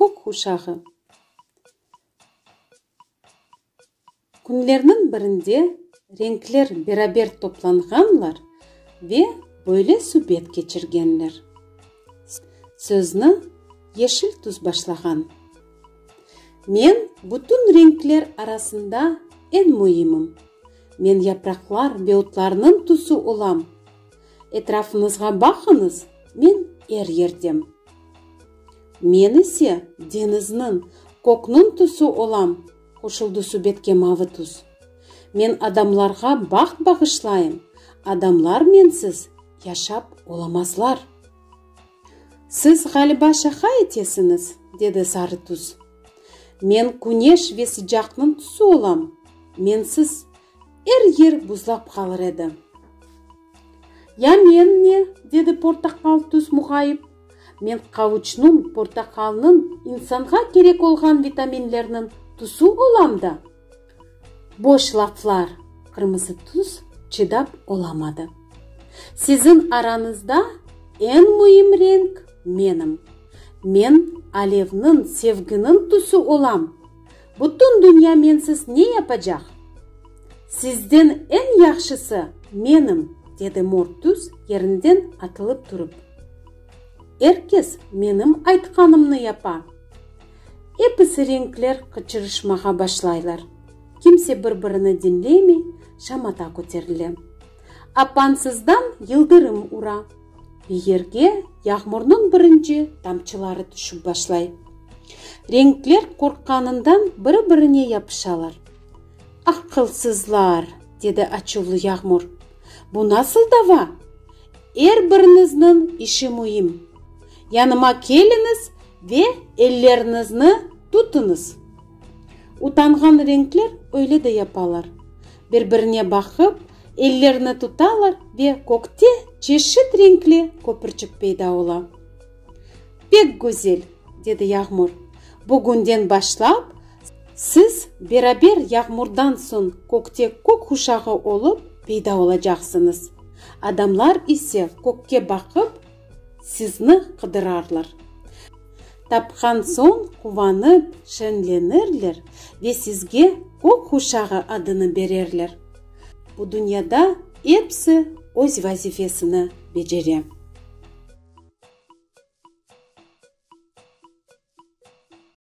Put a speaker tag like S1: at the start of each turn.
S1: Kök uşağı. Künlerniñ birinde renkler beraber toplanğanlar ve böyle subet keçirgenler. Sözni yeşil tuz başlağan. Men bütün renkler arasında eñ müimim. Men yapraqlar ve otlarnıñ tuzu olam. Etrafıñızğa baqıñız, men er yerdem. Men ise deñizniñ, kökniñ tusu olam, qoşuldı subetke Mavi tuz. Men adamlarğa baht bağışlayım, adamlar mensiz yaşap olamazlar. Siz, ğaliba, şaqa etesiñiz, dedi Sarı tuz. Men küneş ve sıcaqnıñ tusu olam, mensiz Er yer buzlap qalır edi. Ya men ne? dedi portaqal tüs muğayip. Men qavuçnıñ, portaqalnıñ, insanğa kerek olğan vitaminlerniñ tüsü olam da? Boş laflar! Qırmızı tüs çıdap olamadı. Siziñ aranızda eñ müim renk menim. Men alevniñ, sevginiñ tüsü olam! Bütün dünya mensiz ne yapacaq? Sizden eñ yahşısı menim, dedi mor tüs, yerinden atılıp turıp. Er kes menim aytqanımnı yapa. Episi renkler qıçırışmağa başlaylar. Kimse bir-birini diñlemey, şamata köterile. Apansızdan yıldırım ura. Yerge yağmurnıñ birinci tamçıları tüşip başlay. Renkler qorqqanından biri-birine yapışalar. Aqılsızlar! dedi açuvlı yağmur. Bu nasıl dava? Er birinizniñ işi müim. Yanıma keliñiz ve elleriñizni tutıñız. Utanğan renkler öyle de yapalar. Bir-birine baqıp, ellerini tutalar ve kökte çeşit renkli köpürçik peyda ola. Pek güzel! dedi Yağmur. Bugünden başlap, siz beraber yağmurdan soñ kökte kök quşağı olıp peyda olacaqsıñız. Adamlar ise kökke baqıp, Sizni qıdırarlar. Tapqan soñ quvanıp, şenlenirler ve sizge Kök quşağı adını bererler. Bu dünyada episi öz vazifesini becere.